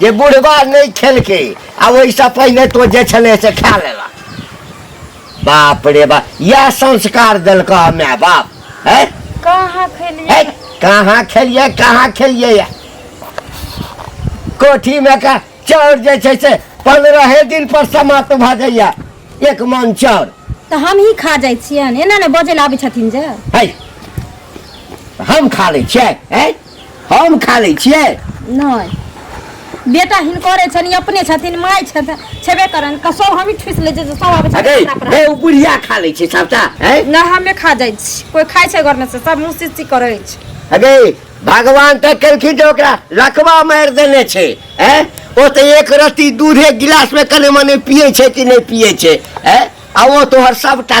जे बुढ़वा नहि खेलकै आ ओहिसँ पहिने तो जे छलै से खा लेला बाप रे बाप इएह संस्कार देलक माय बाप है कहाँ खेलिए कहाँ खेलिए कहाँ खेलिए या कोठीमे का चाउर जे छै से पन्द्रहे दिन पर समाप्त भऽ जाइया एक मन चाउर तऽ हमही खा जाइ छियनि एना ने बजै लए आबै छथिन जे है हम खा लै छियै है हम खा लै छियै नहि बेटा हिनकरे छनि अपने छथिन माय छथिन छेबे करन कसो हम ठुस ले जे सब आबै छै अरे अपना हे ओ बुढ़िया खा लै छै सबटा है ना हमे खा जाइ छी कोई खाइ छै घर में से सब मुंह सिस्सी करै छै अरे भगवान तऽ केलखिन जे ओकरा लकवा मारि देने छै है ओ तऽ एक रत्ती दूधे गिलास में कने मने पिए छै कि नहि पिए छै है आ ओ तोहर सबटा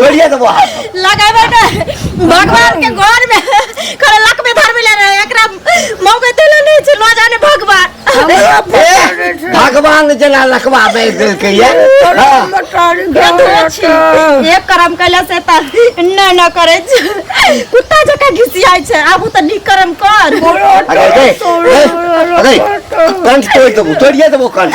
तोड़िए देबो हाथ लगाबै ने भगवान के घर में करे लक में धर मिले रहे एकरा मौके देले नहीं छै न जाने भगवान भगवान जेना लकवा दे देलके ये हाँ। एक करम कैला से त न न करे छै कुत्ता जका घिसियाय छै आबू त नीक करम कर अरे दे अरे कंठ तोड़ देबो तोड़िए देबो कंठ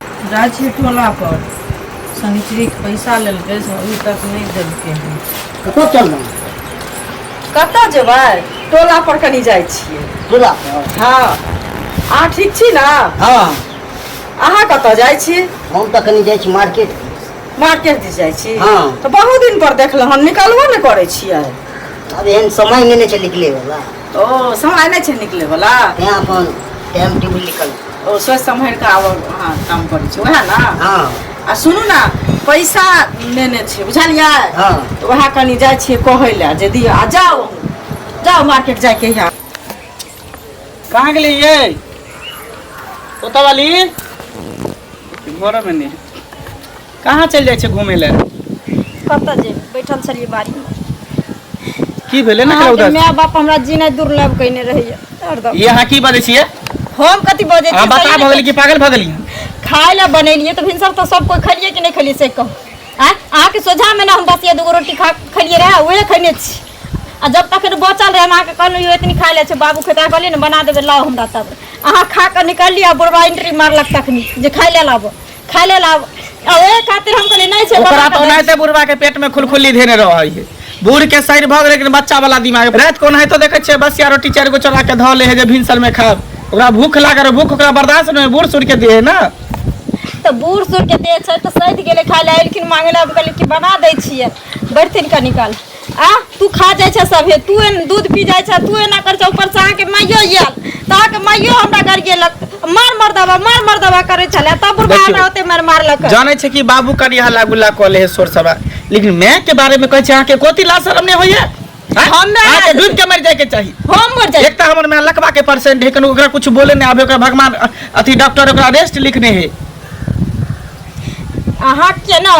जाइ छियै टोला पर शनिचरी के पैसा लेलकै से अभी तक नहि देलकै हन कतऽ चल रहा है कतऽ जेबै टोला पर कनी जाइ छियै टोला पर हँ अहाँ ठीक छी ने हाँ अहाँ कतऽ जाइ छी हम तऽ कनी जाइ छी मार्केट मार्केट दिस जाइ छी हँ। तऽ बहुत दिन पर देखलहुँ हन निकलबो ने करै छियै अब एहन समय नहि ने छै निकले वाला ओ समय नहि छै निकले वाला तैं अपन टाइम टेबुल निकल ओ सोचि सम्हरि कऽ आब अहाँ काम करै छी उएह ने हँ आ सुनू ने पैसा लेने छै बुझलियै हँ तऽ उएह कनि जाइ छियै कहै लए जे दिअ आ जाउ जाउ मार्केट जायके यहाँ कहाँ गेली ये ओतऽ वाली घरमे नहि कहाँ चलि जाइ छै घूमय लए कतऽ जेबै बैठल छलियै बाड़ी मे की भेलै ने अहाँके उधर माय बाप हमरा जीनाइ दुर्लभ कयने रहैया हरदम ई अहाँ की बजै छियै हम कथी बजै अहाँ छियै बता सही मे भगली कि पागल भगली खाय लए बनेलियै तऽ भिनसर तऽ सब कोइ खेलियै कि नहि खेलियै से कहू आँय अहाँके सोझामे ने हम बस ये दूगो रोटी खा खेलियै रहए उहे खेने छी आ जब तक एखन बचल रहै हम अहाँके कहलहुँ यौ एतनी खा लै छै बाबू खेता कहलियै ने बना देबै लाउ हमरा तब अहाँ खा कऽ निकललियै आ बुढ़वा एंट्री मारलक तखनी जे खाय लए लाबऽ खा ले लाब आ ओहे खातिर हम कहली नहीं छै ओकरा बना तो के दे। ओनाहिते बुढ़वा के पेट में खुलखुली धेने रहै है बूढ़ के सैर भऽ गेलै लेकिन बच्चा वाला दिमाग रात को ओनाहितो देखै छियै बसिया रोटी चारि गो चोरा के धऽ ले है जे भिनसर में खाब ओकरा भूख लागल रहै, भूख ओकरा बर्दाश्त नहि होइ, बूढ़ सूढ़ के दे है ना तऽ बूढ़ सूढ़ के देह छै तऽ सैध गेलै खाय ले एलखिन मांगे ले हम कहली कि बना दै छियै बैठथिन कनी काल आ तू खा जाइ छै सभे तू एन- दूध पी जाइ छै तू एना कर छै ऊपर से अहाँके माइयो आयल तऽ अहाँके माइयो हमरा घर गेलक मार मार दबा मार मार दबा करै छलै तब बुढ़बा देखियौ। हमरा ओते मार मारलक जानै छै कि बाबू करी हल्ला गुल्ला कऽ ले है शोर शराबा लेकिन माय के बारे में कहै छै अहाँके कोती लाज शरम नहि होइए आँय? हम नहि- अहाँके डूबि के मरि जायके चाही हम मर जाइ एक तऽ हमर माय लकबा के परसेंट है कनु ओकरा कुछ बोले नहि आबे ओकरा भगवान अ- अथी डॉक्टर ओकरा रेस्ट लिखने है अहाँ के ना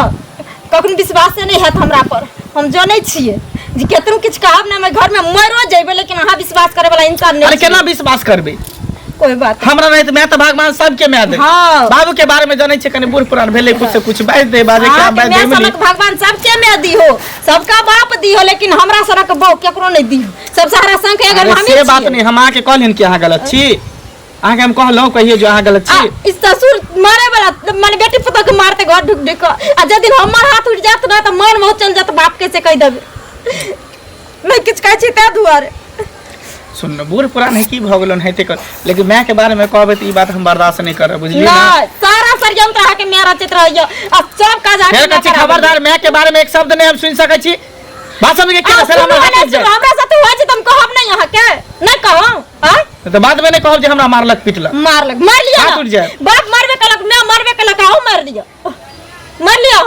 कखनो विश्वासे नहि हैत हमरा पर हम जनै छियै जे केतनो किछु कहब ने घर में मरो जेबै लेकिन अहाँ विश्वास करे वाला इंसान नहीं अरे केना विश्वास करबे कोई बात हमरा रहित मैं तो भगवान सबके मैं दे हाँ। बाबू के बारे में जाने छे कने बूढ़ पुरान भेले कुछ से कुछ बाज दे बाजे के बाज दे मैं सनक भगवान सबके मैं दी हो सबका बाप दी हो लेकिन हमरा सनक बो केकरो नहीं दी सब सारा संग अगर हम से बात नहीं हम आके कहलिन कि अहाँ गलत छी अहाँके हम कहलहुँ कहियो जो अहाँ गलत आ छी ई ससुर मारे वाला माने बेटी पुतोह के मारते घर ढुक ढुक के। आ जब दिन हमर हाथ उठ जात ना त मन बहुत चल जात बाप के से कह देब मैं किछ कहै छी तै दुआरे सुन न, बूढ़ पुरान है की भऽ गेलन है तेकर लेकिन माय के बारे में कहबै तऽ ई बात हम बर्दाश्त नहीं करब बुझलियै ना ना सारा षड्यंत्र अहाँ के मेरा चित्र होइयो आ सब काज अहाँ फेर कहै छी खबरदार माय के बारे में एक शब्द नहीं हम सुनि सकै छी भाषण के केना सर हमर हाथ उठि जाय हमरा साथे होइ छै त हम कहब नै अहाँ के नै कहब आय तऽ बाद में नै कहब जे हमरा मारलक पिटलक मारलक मार लिया हाथ उठ जाए बाप मारबे कलक मैं मारबे कलक आओ मार दियो मार लियो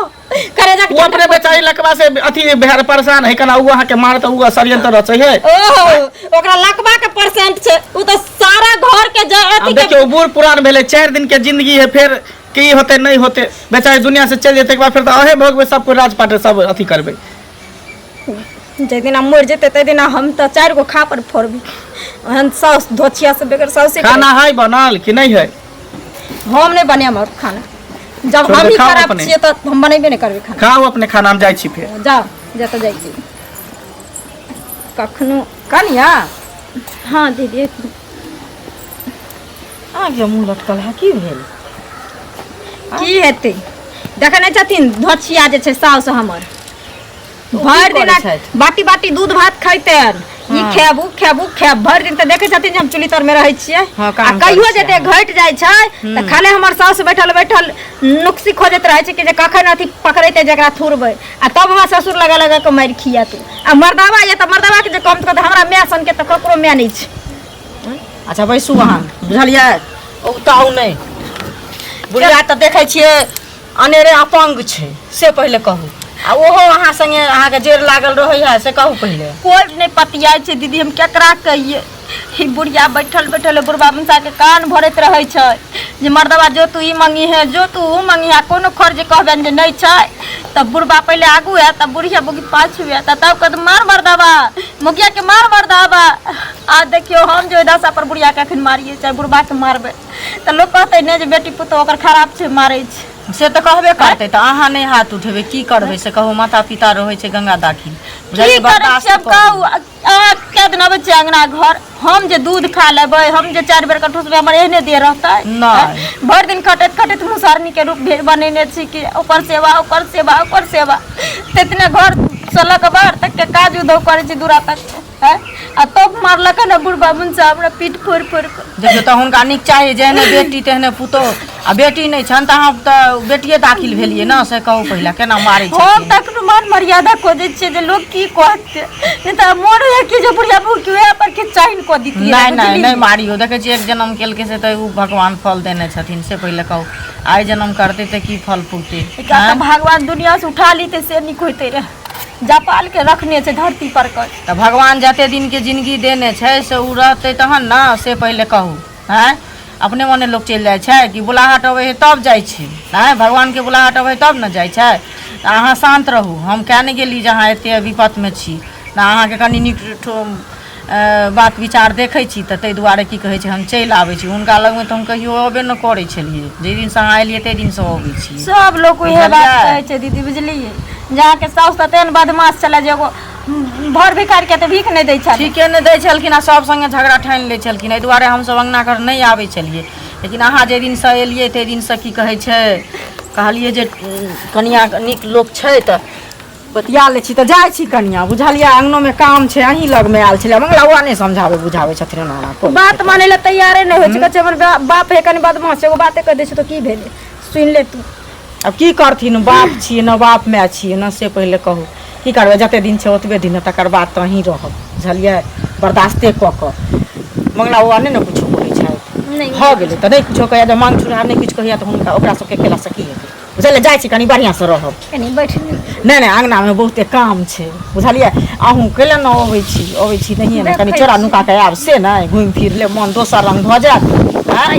करे जा वो अपने बेचारी लकवा से अथी भेड़ परेशान है कना वो अहाँ के मार तो वो षड्यंत्र रचे है ओहो ओकरा लकवा के परसेंट छै उ तो सारा घर के जे अथी के देखियो बूढ़ पुरान भेले चार दिन के जिंदगी है फिर की होते नहीं होते बेचारी दुनिया से चल जेते के बाद फिर तो अहे भोगबे सब कोई राजपाट सब अथी करबे जाहि दिना मरि जेतै ताहि दिना हम तऽ चारि गो खापर फोड़बी ओहन साउस धोछिया से बेगर साउसे खाना है बनल कि नहीं है हम नहि बनाएब आओर खाना जब छोड़ हम दे, ही खाओ खराब अपने। छियै तऽ हम बनेबे नहि करबै खाना खाओ अपने खाना हम जाइ छी फेर जाओ जतऽ जाइ छी कखनो कनिया हाँ दीदी आ गया मुँह लटकल है की भेल की हेतै देखै नहि छथिन धोछिया जे छै साउस हमर भरि दिन करै छथि? बाटी बाटी दूध भात खैते ई हाँ। खायब उ खायब उ खायब भरि दिन तऽ देखै छथिन जे हम चुली तर मे रहै छियै हाँ, आ काम कहियो करै जे छियै देह घटि जाइ छै तऽ खाली हमर साउस बैठल बैठल नुक्सी खोजैत रहै छै कि जे कखन अथी पकड़ेतै जकरा थुरबै आ तब हमरा ससुर लगा लगा के मारि खिया तू आ मर्दावा ये तऽ मर्दावा के जे कम तऽ हमरा माय सन के तऽ ककरो माय नहि छै अच्छा बैसू अहाँ बुझलियै औताउ नहि बुढ़िया तऽ देखै छियै अनेरे अपंग छै से पहिले कहू आ ओहो अहाँ संगे अहाँके जेर लागल रहैया से कहू पहिले कोई नहि पतियाइ छै दीदी हम केकरा कहिए ई बुढ़िया बैठल बैठल बुढ़बा मुसाके कान भरैत रहै छै जे मर्दबा जो तू ई मंगी है जो तू ओ मंगी है कोनो खर जे कहबनि जे नहि छै तऽ बुढ़बा पहिले आगू है तऽ बुढ़िया बुकी पाछू है तऽ तब कहत मार मर्दबा मुखियाके मार मर्दबा आ देखियौ हम जे दशा पर बुढ़ियाके एखन मारियै चाहे बुढ़बाके मारबै तऽ लोक कहतै ने जे बेटी पुतहु ओकर खराब छै मारै छै से तऽ कहबे करतै तऽ अहाँ नहि हाथ उठेबै की करबै से कहू माता पिता रहै छै गंगा दाखिल की करै छियै कहू अहाँ कए दिन अबै छियै अंगना घर हम जे दूध खा लेबै हम जे चारि बेर कठूसबै हमर एहने देह रहतै नहि। भरि दिन खटैत खटैत मुसहरनी के रूप भेज बनेने छी कि ओकर सेवा ओकर सेवा ओकर सेवा तेतने घर से लऽ कऽ बाहर तक के काज उधो करै छी दूरा तक के हैं? आ तब मारलक हन बुढ़बा मुन साहब हमरा पीठ फोड़ि फोड़ि कऽ जब तऽ हुनका नीक चाही जेहने बेटी तेहने पुतोह आ बेटी नहि छनि तऽ अहाँ तऽ बेटिए दाखिल भेलियै ने से कहू पहिले केना मारै छै हम तक मान मर्यादा को दै छियै जे लोक की कहतै नहि तऽ मोन होइए कि जे बुढ़िया बहू के वएह पर किछु चाइन कऽ दितियै नहि नहि नहि मारियो देखै छियै एक जन्म केलकै से तऽ ओ भगवान फल देने छथिन से पहिले कहू आइ जन्म करतै तऽ की फल फूलतै एकरा तऽ भगवान दुनिया से उठा लीते से नीक होइते रहे जापाल के रखने छै धरती पर कर तऽ भगवान जते दिन के जिंदगी देने छै से ओ रहतै तहन ने से पहिले कहू आँय अपने मोने लोक चलि जाइ छै कि बुलाहट अबै हइ तब जाइ छै आँय भगवानके बुलाहट अबै हइ तब ने जाइ छै तऽ अहाँ शान्त रहू हम किए नहि गेली जे अहाँ एते विपतमे छी तऽ अहाँके कनि नीक ठो अऽ, बात विचार देखै छी तऽ ताहि दुआरे की कहै छै हम चलि आबै छी हुनका लगमे तऽ हम कहियो अबे नहि करै छलियै जाहि दिनसँ अहाँ एलियै ताहि दिनसँ अबै छी सब लोग उहे बात बुझलियै? कहै छै दीदी बुझलियै जे अहाँके साउस तते ने बदमाश छलै जे एगो भर भिखारीके तऽ भीख नहि दै छल ठीके नहि दै छलखिन आ सभ सङ्गे झगड़ा ठानि लै छलखिन एहि दुआरे हमसभ अङ्गना घर नहि आबै छलियै लेकिन अहाँ जाहि दिनसँ एलियै ताहि दिनसँ की कहै छै कहलियै जे उम, कनिया नीक लोक छै तऽ बतिया लै छी तऽ जाइ छी कनिया बुझलियै अङ्गनोमे काम छै अहीं लगमे आयल छलै मंगला बौआ नहि समझाबै बुझाबै छथिन हमरा कोन बात माने लए तैयारे नहि होइ छै कहै छै हमर बा- बाप हे कनि बदमाश छै एगो बाते कहि दै छै तऽ की भेलै सुनि ले तू आब की करथिन बाप छियै ने बाप माय छियै ने से पहिले कहू की करबै जते दिन छै ओतबे दिन ने तकर बाद तऽ अहीं रहब बुझलियै बर्दाश्ते कऽ कऽ मंगला बाबा नहि ने किछो कहै छथि नहि भऽ गेलै तऽ नहि किछो कहैया जब मांग चुनहा नहि किछु कहैया तऽ हुनका ओकरा सबके केलासँ की हेतै बुझलियै जाइ छी कनि बढ़िआँसँ रहब कनी बैठ ले। नहि नहि अङ्गनामे बहुते काम छै बुझलियै अहूँ कैले ने अबै छी अबै छी नहिए ने कनि देखै चोरा छी। नुका कऽ आयब से नहि घुमि फिर लेब मोन दोसर रङ्ग भऽ जायत आँय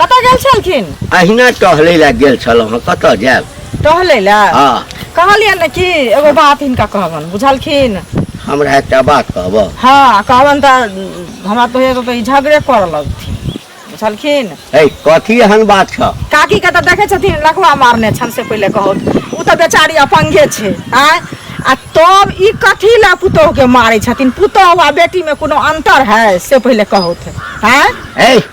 कतऽ गेल छलखिन अहिना टहलै लए गेल छलहुँ हँ कतऽ जायब टहलै लए हँ कहलियै ने कि एगो बात हिनका कहबनि बुझलखिन हमरा एकटा बात कहबह हँ कहबनि तऽ हमरा तो एगो ई झगड़े करऽ लगथिन बुझलखिन है कथी एहन बात छ काकी के तऽ देखै छथिन लखवा मारने छनि से पहिले कहू ओ तऽ बेचारी अपंगे छै आँय आ तब ई कथी लए पुतोह के मारै छथिन पुतोह आ बेटी मे कोनो अंतर है से पहिले कहू आँय है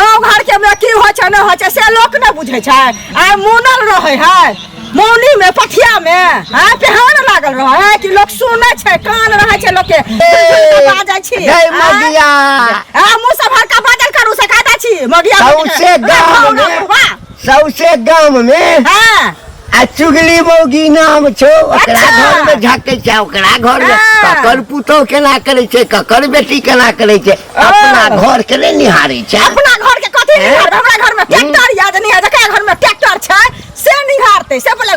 गाँव घर के में की होइ छै नहि होइ छै से लोक नहि बुझै छै आइ मुनल रहै है मौनी में पथिया में आइ पेहान लागल रहै है कि लोक सुनै छै कान रहै छै लोक के बाजै छी जय आइ, मगिया आ मुँह से भरका बाजल करू से कहता छी मगिया सौंसे गाम गाँव में- में वाह सौसे गांव में हाँ आ चुगली मौगी नाम छो ओकरा अच्छा। घर में झके छै ओकरा घर में हाँ। ककर पुतोह केना करे छै ककर बेटी केना करे छै अपना घर के ने निहारे छै अपना घर के कथी हैं? निहारबै हमरा घर में ट्रैक्टर या जे निहार जकरा घर में ट्रैक्टर छै से निहारतै से बोले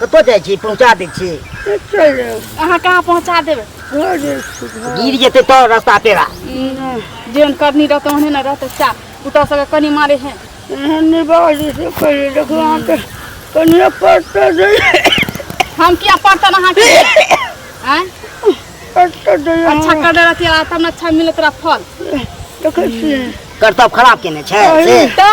कतऽ जाइ छी पहुँचा दै छी अहाँ कहाँ पहुँचा देबै गिर जेतै तऽ रास्ता पेरा जेहन करनी रहतै ओहने ने रहतै सएह पुतहु सबके कनि मारे है एहन नहि बाजै छै पहिले देखू अहाँके कनिए पड़तै जे हम किया पड़तन अहाँके आँय पड़तै जे अच्छा कर दे रहती तब ने अच्छा मिलत रहा फल देखै छियै करतब खराब केने छै से तऽ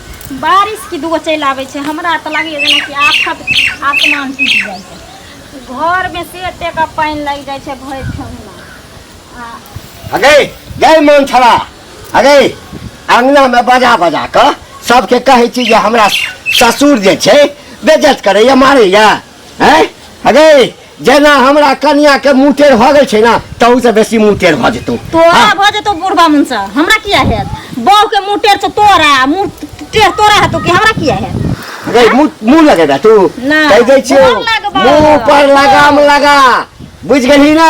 बारिश की दूगो चलि आबै छै हमरा तऽ लागैए जेनाकि आफत आसमान टूटि जाइ छै घरमे से एतेक पानि लागि जाइ छै भरि ठेहुना आ अगे गए मन छला अगे अङ्गनामे बजा बजा कऽ सभके कहै छी जे हमरा ससुर जे छै बेजत करैए मारैए हैं अरे जेना हमरा कनिया के मुंह टेढ़ भऽ गेल छै ना तहू से बेसी मुंह टेढ़ भऽ जेतौ तोरा हाँ, भऽ जेतौ बुढ़बा मुनसा हमरा किया हैत बहू के मुँह टेढ़ छौ तोरा मुँह टेढ़ तोरा हेतौ कि हमरा किया हैत अरे मुंह मुंह लगे ना तू ना, कहि दै छियौ गोर लगबा। मुंह पर लगाम लगा बुझ गेलही ना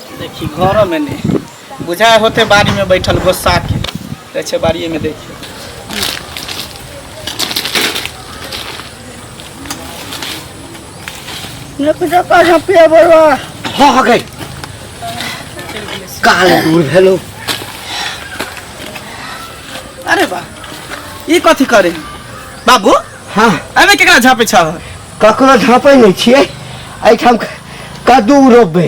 देखी घर में नहीं बुझा होते बाड़ी में बैठल गोस्सा के कहै छै बाड़िए में देखियो हो गई काल दूर भेलो अरे बा ई कथी करे बाबू हाँ अबे केकरा झापे छह ककरो झाँपै नहि छियै एहिठाम कद्दू रोपबै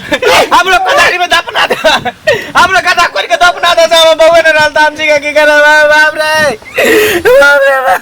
हमरो कदारी में दफना दे हमरो गदा खोल के दफना दे सब बउए ने रहल त हम जी के की करब बाप रे बाप रे बाप।